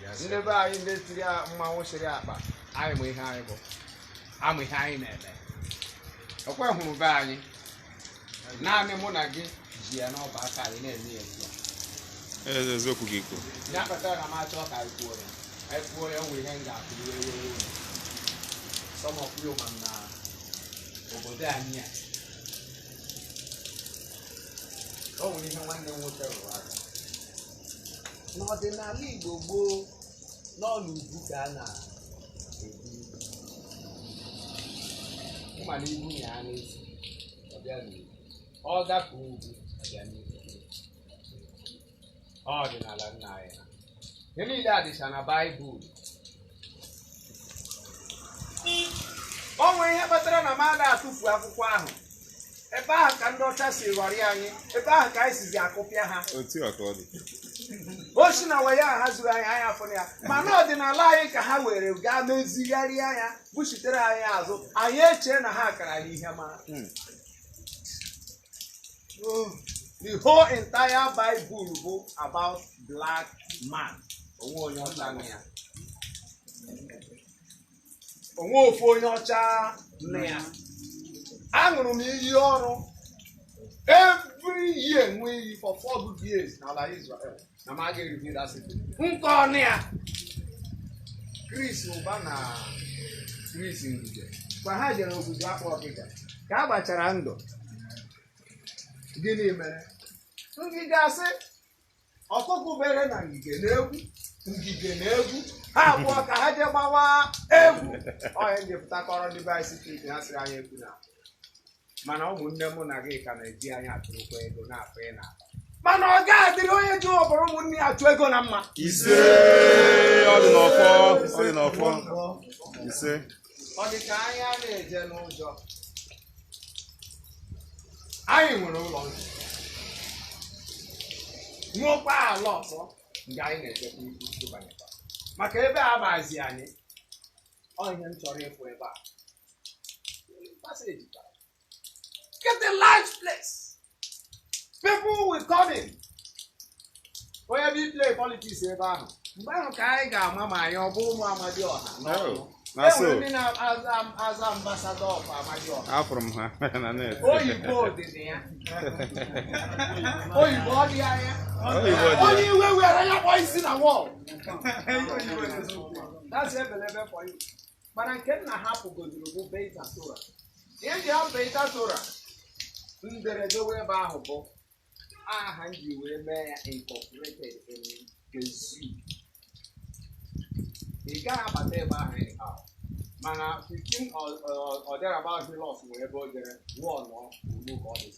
ndị be anyị ndị tiri a- mmanwụ chịrị akpa anyị ma ihe anyị bụ a ma ihe anyị na-eme ọ kwa a hụrụ be anyị naanị mụ na gị ji ya n'ọba aka anyị na-eme ya ugbu a Eze eziokwu gị kwuru. ya kpatara na m achọ ka anyị kwuo ya anyị kwuo ya nwere ihe m ga-akọ iwe ewe some of you ma na obodo anyị a o nwere ihe nwanne m nwoke rụrụ aka n'ọdịnala Igbo gboo n'ọla ugwu ka a na-ebi ịma na ibu ya a n'isi ọ bịa n'ugwu ọ gafee ugwu ọ bịa n'ugwu ọdịnala nna anyị ha ihe niile a dịcha na baịbụl o nwere ihe kpatara na m ada atụfu akwụkwọ ahụ ebe ahụ ka ndị ọcha si ghọrịa anyị ebe ahụ ka anyị sizi akụpịa ha otu a ka ọ dị o si na waya ha zuru anyị anya afọ ya mana ọdịnala anyị ka ha were gaa mezigharịa ya buchitere anyị azụ anyị echee na ha kara anyị ihe mara the whole entire Bible bụ about black man o nwe onye ọcha na ya o nwe ofu onye ọcha na ya aṅụrụ m iyi ọrụ every year m ṅụọ iyi for four good years n'ala Israel na m agaghị reveal that secret nke ọnụ ya Chris Ụba na Chris Ngige kwa ha jere Ogwugwu Akpụ Ọkịja ka a gbachara ndụ gịnị mere Ngige asị ọkụkụ bere na ngige na-egwu ngige na-egwu ha abụọ ka ha jee gbawa egwu ọ ya m ji pụta kọọrọ ndị be anyị secret ha sịrị anyị ekwuna mana ụmụnne mụ na gị ka na-eji anyị achụrụkwa ego na-afanye n'akpa mana ọ ga-adịrị onye ji ọbara ụmụnne ya achụ ego na mma ise ọ dị n'ọfọ ọ dị n'ọfọ ise ọ dị ka anyị a na-eje n'ụjọ anyị nwere ụlọ nsọ nwekwa ala nsọ nke anyị na-echekwa ibu ịbanyekwa maka ebe a abazi anyị ọ ihe m chọrọ ịfụ ebe a Passage. Get a large place. People will come in. Onye bi play politics ebe ahụ. Mgbe ahụ ka anyị ga-ama ma anyị ọ bụ ụmụ Amadiọha n'ọnụ. Oh, na E so nwere ndị na-aza aza ambassador of Amadiọha. afụrụ m ha na net Oyibo dị na ya. Oyibo ọ dị na ya. Oyibo dị ya. Onye iwe were ya kpọọ isi na wall. That's ebelebe for you. Mana nke nna hapụgodoro bụ Beta Tora. Ihe ji hapụ Beta Tora mberede wee ebe ahụ bụ aha m ji wee mee ya incorporated in Gezu. Ị gaghị abata ebe ahụ anyhow. Mana 15 or, or, or thereabout he lost wee ebe o jere wụọ nọ ugbu ka ọ dị.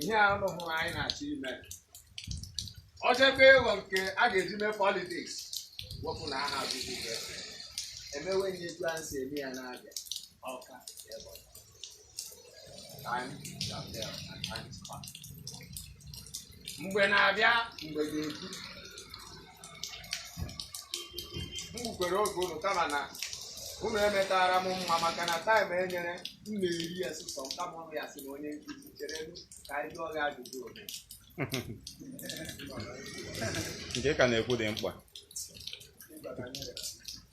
ihe a ụnụ hụrụ anyị na-achọ ime ọ chekwa ịghọ nke a ga-eji mee politiks wepụ na aha azụzụ ibe emewe ihe etu anyị si eme ya n'Abịa ọka ebe ọzọ. Time shall tell and time is past. mgbe na-abịa mgbe ga-ekwu m gbukwere oge unu kama na unu emetara m mma maka na taịm e nyere m na-eri ya sọsọ m kama ọnụ ya sị na onye nkụzi chere m ka anyị jụọ gị ajụjụ ole nke ka na-ekwu dị mkpa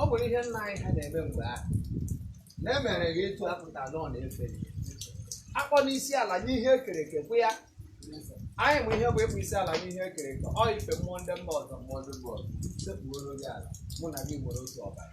ọ bụrụ ihe nna anyị ha na-eme mgbe ahụ na emere ya etu a pụta na ọ na-efe ya. akpọna isi ala nye ihe ekere eke bụ ya anyị ma ihe bụ ịkpọ isi ala nye ihe ekere eke ọ ife mmụọ ndị mba ọzọ mmụọ ndị mba ọzọ sekpuoro gị ala mụ na gị nwere otu ọbara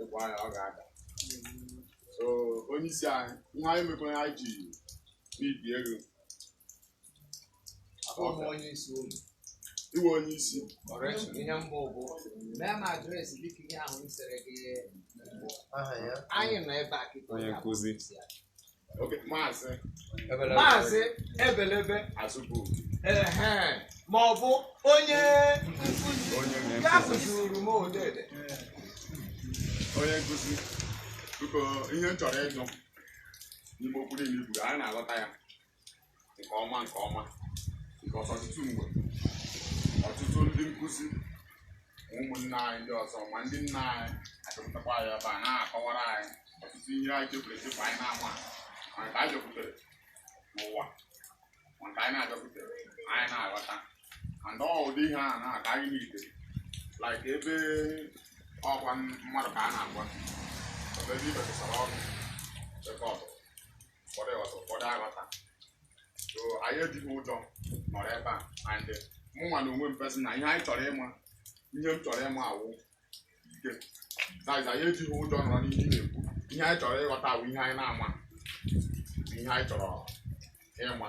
ị kwaa ya ọ ga-ada so onye isi anyị ihe anyị mekwa anyị ji n'ibi ego iwe onye isi ihe mbụ bụ mee m adreesị dịka ihe ahụ m sịrị gị anyị nọ ebe a kịta onye nkụzi Okay, Maazị maazị Ebelebe Azubuike. ehe ma ọ bụ onye nkụzi Onye nke nkụzi. akụziri m odede Onye nkụzi. Biko ihe m chọrọ ịjụ n'ime okwu niile i kwuru, anyị na-aghọta ya. nke ọma nke ọma nke ọtụtụ mgbe ọtụtụ ndị nkụzi na ụmụnne anyị ndị ọzọ ma ndị nna anyị achọpụtakwa anyị ebe a na-akọwara anyị ọtụtụ ihe anyị chefuru echefu anyị na-ama ma nke anyị chọpụtara n'ụwa ma nke anyị na-achọpụtara anyị na-aghọta and ọ ụdị ihe a na-aga anyị na ntị like ebe ọkwa mmadụ ka a na-agwa ebe ndị ibekọsara ọnụ chekọtụ ụfọdụ ghọta ụfọdụ aghọta so anyị ejighị ụjọ nọrọ ebe a and mụ nwa na onwe m per se na ihe anyị chọrọ ịma ihe m chọrọ ịma awụ like that is anyị ejighị ụjọ nọrọ n'ihe ị na-ekwu ihe anyị chọrọ ịghọta awụ ihe anyị na-ama ihe anyị chọrọ ịma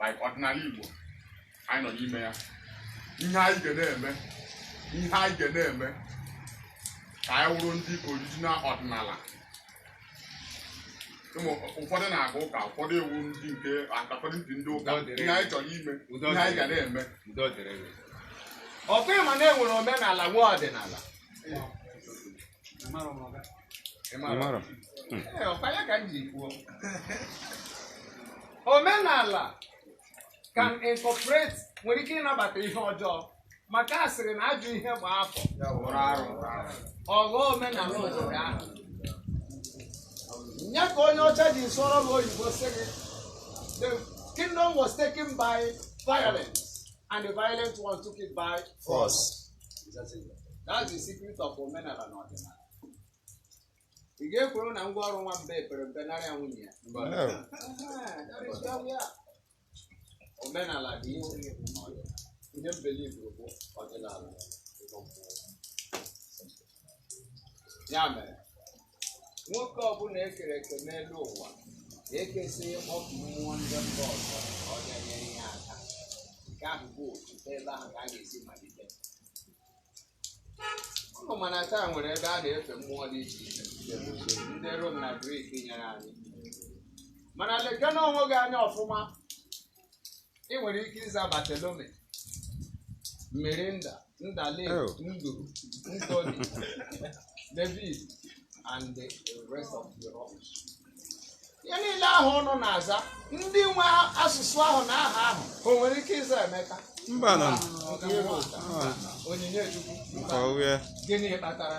like ọdịnala Igbo anyị nọ n'ime ya ihe anyị ga na-eme ihe anyị ga na-eme ka anyị wụrụ ndị original ọdịnala ụmụ ụfọdụ na-aga ụka ụfọdụ awụ ndị nke ụfọdụ ndị ndị ụka Udo dịrị ihe anyị chọrọ ime Udo ihe anyị ga dịrị. na-eme udo dịrị gị ọ kwa ị ma na e nwere omenala nwee ọdịnala ị mara omenala can incorporate nwere ike ịnabata ihe ọjọọ maka a sịrị na ajọ ihe gbaa afọ ọ ghọọ omenala obodo ahụ ya ka onye ọcha ji sụọrọ m oyibo sị gị the kingdom was taken by violence and the violent one took it by force That's the secret of omenala na ọdịnala. Ị ga-ekworo na ngwa ọrụ nwa mbe pere mpe nara ya nwunye ya. No. Aha, that is where we are. Omenala dị iche n'ọdịnala. Ihe m believe bụ ọdịnala. ya mere nwoke ọbụla e kere eke n'elu ụwa ga-akwụsị oku mmụọ ndị mba ọzọ ka ọ bịa nyere ya aka nke ahụ bụ otu ebe ahụ ka a ga-esi malite ụnụ ma na taa nwere ebe a na-efe mmụọ dị iche iche ndị Rom na Grik nyere anyị mana lekene onwe gị anya ọfụma ị nwere ike ịza Bartholomew Mirinda Ndale Oh. Andrew Anthony David and the rest of the rubbish ihe niile ahụ ụnụ na-aza ndị nwe asụsụ ahụ na aha ahụ o nwere ike ịza Emeka mbanụ Ọ dịghị otu a. Onyinye Chukwu nke ọhụrụ ya gịnị kpatara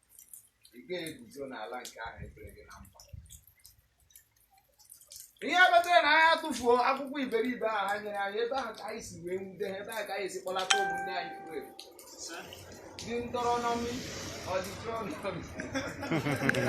ị ga-eguzo n'ala nke ahụ ekpere gị na mkpa ihe kpatara na anyị atụfuo akwụkwọ iberibe ahụ ha nyere anyị ebe ahụ ka anyị si wee nwude ha ebe ahụ ka anyị si kpọlata ụmụnne anyị furu efu Deuteronomy ọ Deuteronomy